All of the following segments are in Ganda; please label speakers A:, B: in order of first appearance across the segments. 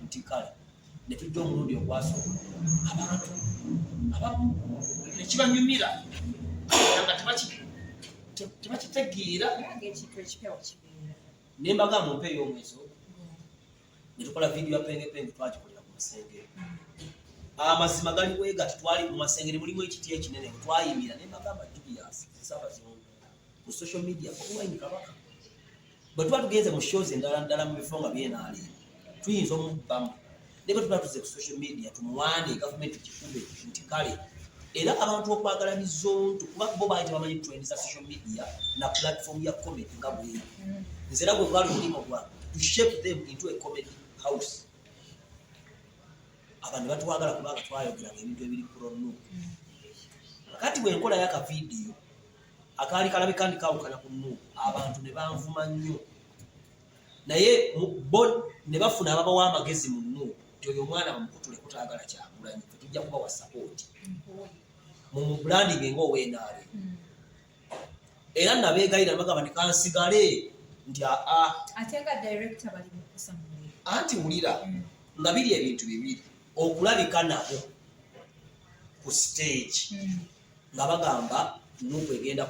A: nti kale netujja omulundi ogwasooka abantu abamu nekibanyumira nga tebakitegeera ne mbagamba ompa ey'omwezi ogwo netukola vidiyo ya pengepenge twagikolera ku masengere amazima gali bwegati twali mu masengere mulimu ekiti ekinene twayimira ne mbagamba julius nsaba zino ku social media Bobi Wine kabaka bwe tuba tugenze mu shows endala ndala mu bifo nga byenaali tuyinza omubbamu naye bwe tuba tuze ku social media tumuwaane gavumenti kikube nti kale era abantu okwagala bizonto kuba bo baali tebamanyi trend za social media na platform ya comedy nga bweyo nze era gwe gwali omulimu gwange to shape them into a comedy house abantu batwagala kubanga twayogeranga ebintu ebiri prono kati bwenkola yaka vidiyo akaali kalabika ndi kawukana ku nu abantu ne banvuma nnyo naye bo ne bafuna ababawa amagezi mu nu nti oyo omwana bamukutule kutagala kyagulanyi fe tujja kubawa sapooti mu mubulandinge ngaowenaale hmm. era nabeegayira nabagamba nti kansigale nti aa
B: anti wulira
A: hmm. nga biri ebintu bibiri okulabika nabo ku siteegi hmm. nga bagamba nuku egenda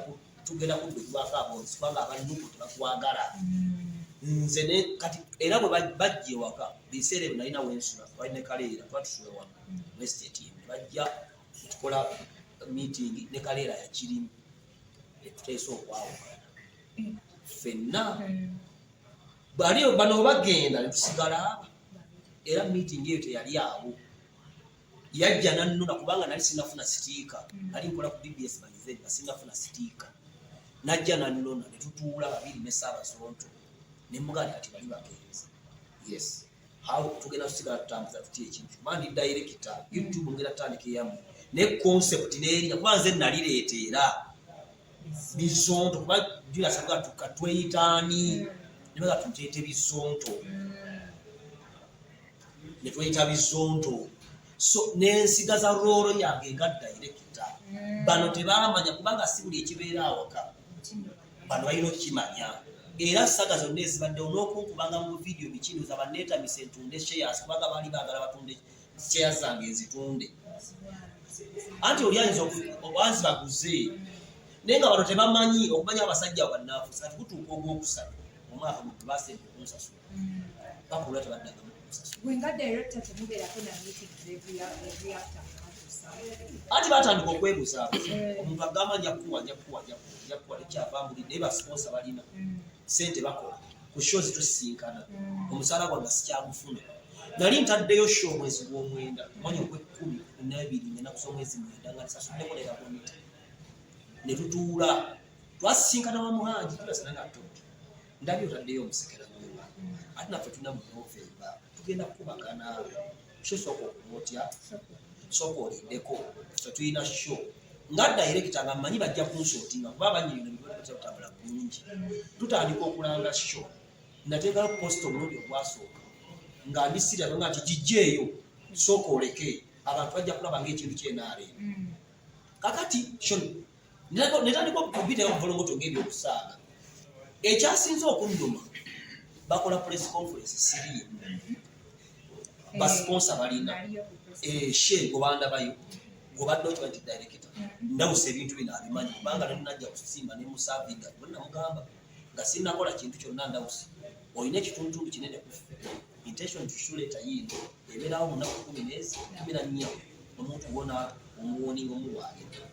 A: tugenda kuddukibwako aboozi kubanga aba nuku tebakwagala mm. nze ne kati era bwe bajja ewaka biseera ebyo nalina wensula twali ne kaleera tuba tusula wano mm. westate ne bajja tukola meeting ne kaleera yakirimu etuteesa okwawukana mm. fenna bali bano bagenda netusigala aba era meeting eyo teyali awo yajja nannuna kubanga nali sinafuna sitiika mm. nali nkola ku bbs baize nga sinafuna sitiika najja nannona ne tutuula babiri ne saabazonto ne muganda kati bali bagenzi yes how tugenda tusigala tutambuza tuti ekintu mandi dayirekita youtube ngera tandika eyamu ne concept neerina kuba nze nalireeta era bizonto kuba julasabwa tukatweyitaani mm. nebaga tuteete bizonto mm. ne tweyita bizonto so n'ensiga za roolo yange nga dayirekita mm. bano tebamanya kubanga si buli ekibeera awaka bano balina okukimanya era saga zonna ezibaddewo n'okunkubanga mu vidiyo bikino za banneetamisa entunde sheyas kubanga baali baagala batunde sheya zange ezitunde anti oli ayinza obanzi baguze naye nga bano tebamanyi okumanya abasajja bannaafusa ati gutuuka ogwokusatu omwaka gwe basemba okunsasula bakulwa tebaddaga anti batandika okwebuzaako eh. omuntu agamba njakuwa njakuwa njakuwa tekyava muli naye basiponsa balina mm. sente bakola ku sho zitusisinkana mm. omusaala gwange sikyagufuna nali ntaddeyo sho omwezi gw'omwenda omwanya ogw'ekkumi nabiri ngenaku z'omwezi mwenda nga tisasuddeko naye bakomita ne tutuula twasisinkana wa muhangi tulasana nga tto ndabye otaddeyo omusekera gwewa ate naffe tuna mu novemba tugenda kukubagana sho sooka okuba otya sooka olindeko fe tulina sho nga dayirekita nga mmanyi bajja kunsotinga kuba abanyirino bibatya kutambula bulungi tutandika okulanga sho nateekala kuposita omulundi ogwasooka nga ndi sira nga nti gijjeeyo sooka oleke abantu bajja kulaba ngaekintu kyenaale mm. kakati netandika okubitayo obuvulunguto ng'ebyokusaaga ekyasinze okunnuma bakola press conference siriye basiponsa balina eh, she gobandabayo gobadde okiba nti direkita ndawusa ebintu bino abimanyi kubanga nenajja kusimba nemusavinga namugamba nga sinakola kintu kyonna ndawusi olina ekitundutundu kinene kufe intention tushuleta yino ebeerawo munaku kumi nezi kumi na nnya omuntu wona omuwoninga omuwaayedda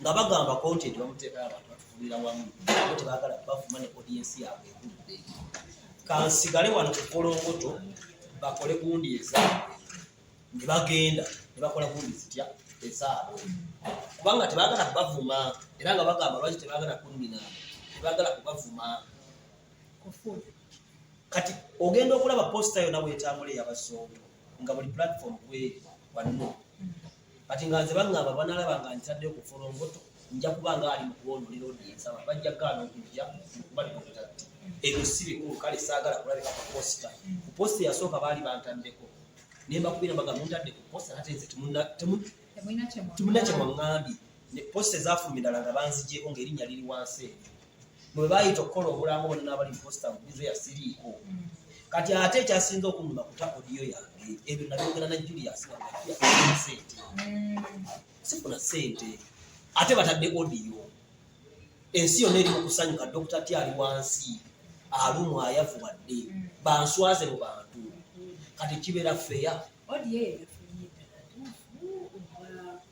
A: nga bagamba content bamuteekala abantu batuvumira wamu abo tebagala bavuma ne audience yaabwe egudde kansigale wano kukolongoto bakole gundi ezaabwe ne bagenda ne bakola gundi zitya ezaabwe kubanga tebagala kubavuma era nga bagamba lwaki tebagala kunnina tebagala kubavuma kati ogenda okulaba posita yona bwetambula eyabasonto nga buli platform kweri wanno kati nga nze baŋŋamba banalaba nga ntadde ku folongoto nja kuba nga ali mu kuwoonolera odi ensaba bajja gaana okujja okubalira obutatti ebyo si bikulu kale saagala kulabika ku posita ku posita eyasooka baali bantaddeko ne mbakubira mbaga muntadde ku posita ate nze temunna kye mwaŋŋambye ne posita ezaafuluma endala nga banzigyeko ng'erinnya liri wansi eyo mwe bayita okukola obulango bona n'abali posta bulizo yasiriiko mm. kati ate ekyasinze okunuma kuta odiyo yange ebyo nabyogera na julius sente mm. sifuna sente ate batadde odiyo ensi yonna eri mu kusanyuka dokita ti ali wansi alumu ayavuwadde mm. banswaze mu bantu kati kibeera feya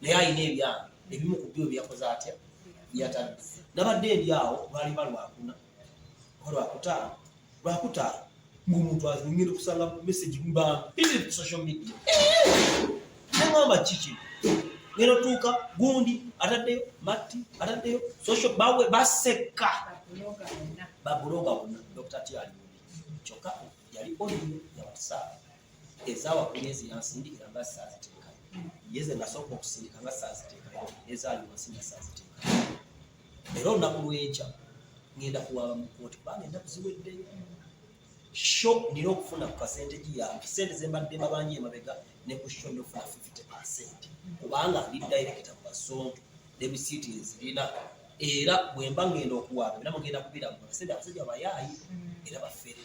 A: naye alina ebyange ebimu ku byo byakoze atya yatadde nabadde ndi awo lwaliba lwakuna oba lwakutaano lwakutaano ngaomuntu azingenda okusanga message mbambiri ku social media nengamba kiki ngenda otuuka gundi ataddeyo matti ataddeyo social bawe baseka babuloga wonna dokita tyali kyokka yali oli yawasaabu ezaawa ku myezi yansindikira nga saaziteeka ye ze nasooka okusindika nga saaziteeka ezaali wansi nga saaziteeka era olunaku lwenkya ngenda kuwaaba mu kooti kubanga ennaku ziweddeyo sho nina okufuna ku kasente giyange sente zembadde mabanja emabega ne ku sho nofuna 50 percent kubanga ndi direkita mu basonto ne bisiiti ezirina era bwemba ngenda okuwaaba era mugenda kubiragula sente abasajja bayaayi era bafere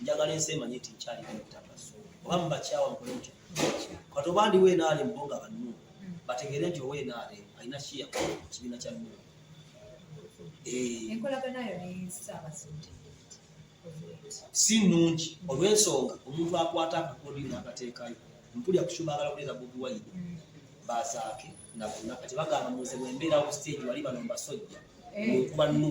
A: njagala ensi emanye nti nkyali ku ttaka so oba mubakyawa mukole mutya kati oba ndi wenaale mbo nga bannu bategeere nti owenaale alina kiya kibiina kya nnu si nnungi olw'ensonga omuntu akwata akakodini n'akateekayo mpulira kukyubaagala kuleeta bobi wayini mm. bazaake nabona kati bagamba muze bwembeerawo ku stage wali bano mbasojja eh. okuba nnu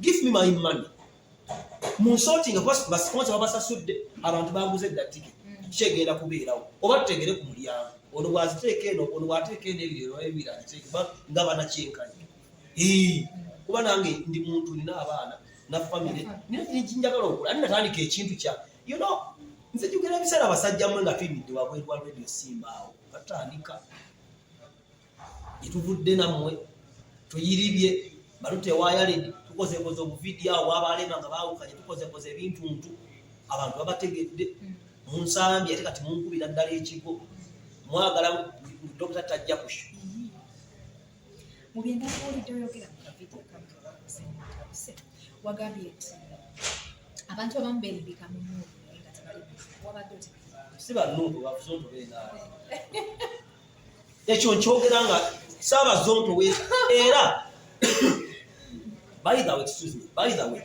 A: give me my money munsotinga kuba basiponsa babasasudde abantu baguze edda tike mm. kyegenda kubeerawo oba tutegere ku mulyango ono bwaziteeka eno ono bwateeka eno ebirero ebiri agiteeka nga banakyenkanye kuba nange ndi muntu nina abaana na famire njagala okula ani natandika ekintu kya you know nze jugera ebiseera abasajja mwe nga tuyimidde wabweru wa radio simbaawo katandika gyetuvudde nammwe tuyiribye balute wayaledi tukozekoze obuvidiyo awo bwabalema nga bawukanye tukozekoze ebintu ntu abantu babategedde hmm. munsambye ate kati munkubira ddala ekigo mwagala dokita tajja kusha wagambye
B: nti abantu abamu berimbika mu nyumba naye
A: nga tebali wabadde si banuubu bafuze otubeera ekyo nkyogera nga saabazonto we era by the way excuse me by the way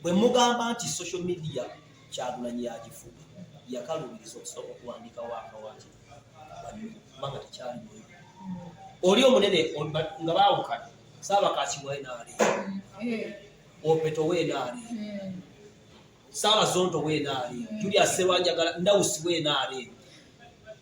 A: bwe mugamba nti social media kyagulanyi yagifuga yakalubiriza okusooka okuwandika wakawaki kubanga tekyali mwoyo oli omunene nga baawukana saabakakiwa enaali opeto weenaali saabazonto weenaali julia sewanjagala ndawusi weenaali